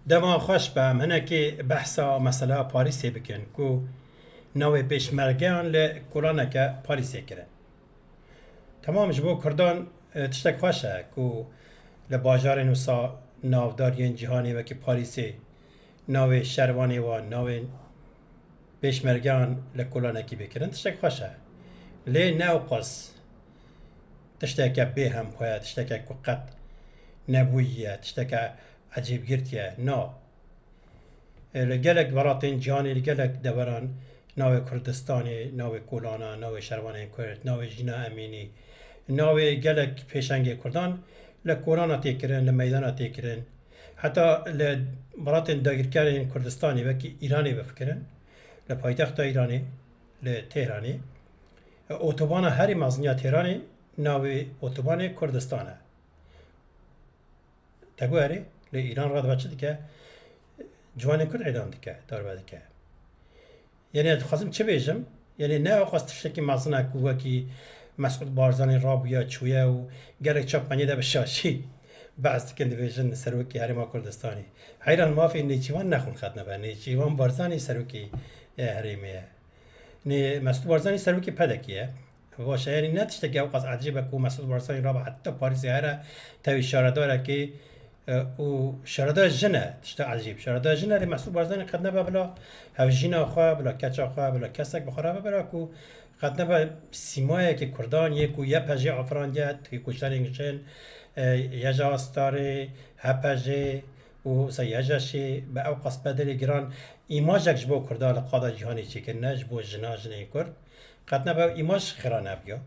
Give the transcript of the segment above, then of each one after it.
Dema xweş be em hinekê behsa mesela Parîsê bikin ku navê pêşmergeyan li kolaneke Parîsê kirin. Temam ji bo kurdan tiştek xweş e ku li bajarên wisa navdar yên cîhanê wekî Parîsê navê şervanê wan, navên pêşmergeyan li kolanekî bê kirin tiştek xweş e. Lê ne ewqas. tişteke bê hemxwe ye, tişteke ku qet nebûyiye, tişteke ecêbgirtiye. Na. Li gelek welatên cihanê, li gelek deveran navê Kurdistanê, navê kolanan, navê şervanên Kurd, navê Jîna Emînî, navê gelek pêşengê Kurdan li kolana tê kirin, li meydana tê kirin. Heta li welatên dagirkerên Kurdistanê wekî Îranê bifikirin, li paytexta Îranê, li Tehranê, Otobana herî meziniya Têranê navê otobanê Kurdistan e. Te got erê, lê Îran re dibe çi dike? Ciwanên Kurd îdam dike, darbe dike. Yenê ez dixwazim çi bêjim? Yenê ne xwest tiştekî mezin e ku wekî Mesûd Barzanî rabûye çûye û gelek çapmeniyê de bi şaşî behs dikin dibêjin Serokê Herêma Kurdistanê. Heyran mafê Nêçîvan ne xwin xetine ber. Nêçîvan Barzanî Serokê Herêmê ye. Nê Mesut Barzanî serokê PEDEK'ê ye. Va şerî ne tiştekî ew qas ecêb e ku Mesut Barzanî raba heta Parîsê here tevî şaredarekê e, û şaredaya jin e tişta ecêb. Şaredaya jin erê Mesut Barzanî qet nebe bila hevjîna xwe, bila keça xwe, bila kesek bi xwe re bibira ku qet nebe sîmayekê Kurdan yê ku YPJ afirandiye, têkoşerên jin, e, YJA Starê, HPJê, Û Seyî Hecaşê bi ew qaspedelê giran îmajek ji bo Kurdan li qada cîhanê çêkirine, ji bo jinan, jinên Kurd. Qet nebe ew îmaj xêra nebiya.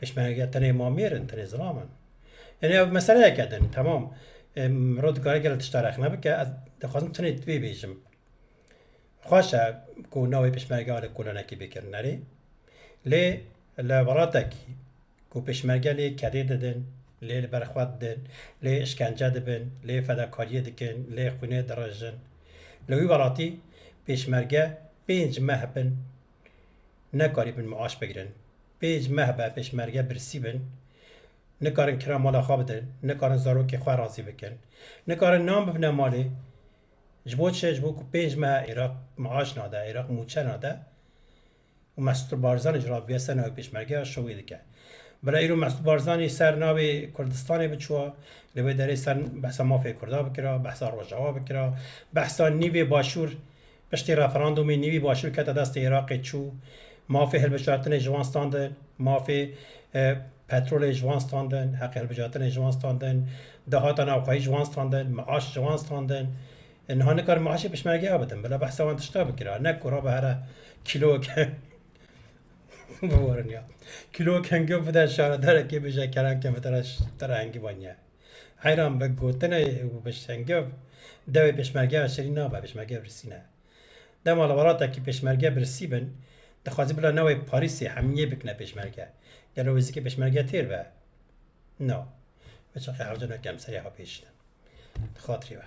Pêşmerge tenê mamêr in, tenê zilam in. Yanî ev meseleyeke din. Temam. Mirov dikare gelek tişta rexne bike. Ez dixwazim tenê vê bêjim. Xweş e ku navê pêşmergeya li kolanekî bikin erê lê li welatekî ku pêşmerge lê kedê didin, lê li ber xwe didin, lê işkence dibin, lê fedakariyê dikin, lê xwînê dirijin. Li wî welatî pêşmerge pênc meh bin nekarîbin miaş bigirin. Pênc meh be pêşmerge birsî bin, nikarin kira mala xwe bidin, nikarin zarokê xwe razî bikin, nikarin nan bibine malê. Ji bo çi? Ji bo ku pênc meha Iraq maaş nade, Iraq mûçe nade û Mesûd Barzanî ji ravige ser navê pêşmergeya şovê dike. Bila îro Mesûd Barzanî ser navê Kurdistanê biçûwa, li wê derê ser behsa mafê Kurda bikira, behsa Rojawa bikira, behsa nîvê Başûr, piştî referandûmê nîvî Başûr kete destê Iraqê çû, Mafê hilbijartinê ji wan standin, mafê petrolê ji wan standin, heqê hilbijartinê ji wan standin, dahata navxweyî ji wan standin, miaş ji wan standin. Niha nikarim miaşê pişmergeya bidim. Bila behsa wan tişta bikira. Ne ku rabe here kîloweke biwarin ya. Kîloweke hingû bide şaredarekê bêje keranke min tera tera hingî vaniye. Heyran bi gotinê û bi hingû dewê pêşmergeya şirîn nabe, pêşmergeya birsî ne. Dema li welatekî pêşmerge birsî bin, dixwazî bila newê Parîsê hemiyê bikine pêşmerge. Gelo wê zikê pêşmerge têr be? Na. Bi çaxê hevdûna kemserê hapêşînin. Di xatirê be.